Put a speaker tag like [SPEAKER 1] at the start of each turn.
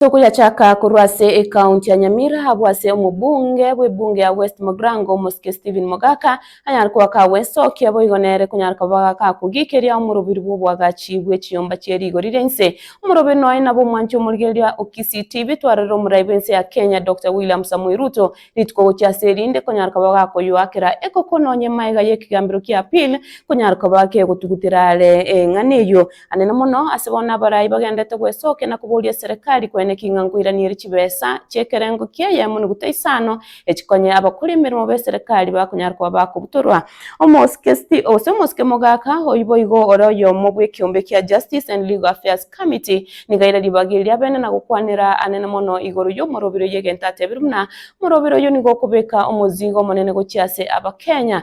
[SPEAKER 1] Tokoyachaka korwa ase ekaunti ya Nyamira abwo ase omobunge bw'ebunge ya West Mogrango omosike Stephen Mogaka anyare koba kagwesokia boigo nere konyara koba gakogikeria omorobiri bw'oboagachi bwe chiyomba chie rigori ria inse. Omorobiri noye nabo omwanche omorigereria o Kisii TV twarorire omorai bw'ense ya Kenya Doctor William Samoei Ruto rituko gochia ase erinde konyara koba gakoyoakera ekokononya emaega y'ekegambero kia appeal konyara koba kegotugutera are eng'ana eyio Anene mono ase bono abarai bagenderete gwesokia na koboria Serikari kwene ki ng'a nkoiranierie chibesa chi'ekerengo kiaye amo noguta isano echikonye abakori emeremo b'eserikari bakonyara koba bakobutorwa. Omosikesti gose omosike mogaka oyio boigo ore oyomo bw'ekeombe kia Justice and Legal Affairs Committee nigo aire ribaga eri ri'abene na gokwanera Anene mono igoro y'omorobiri oyio egento atebire buna, Omorobiri oyio nigo okobeka omozigo omonene gochia ase Abakenya.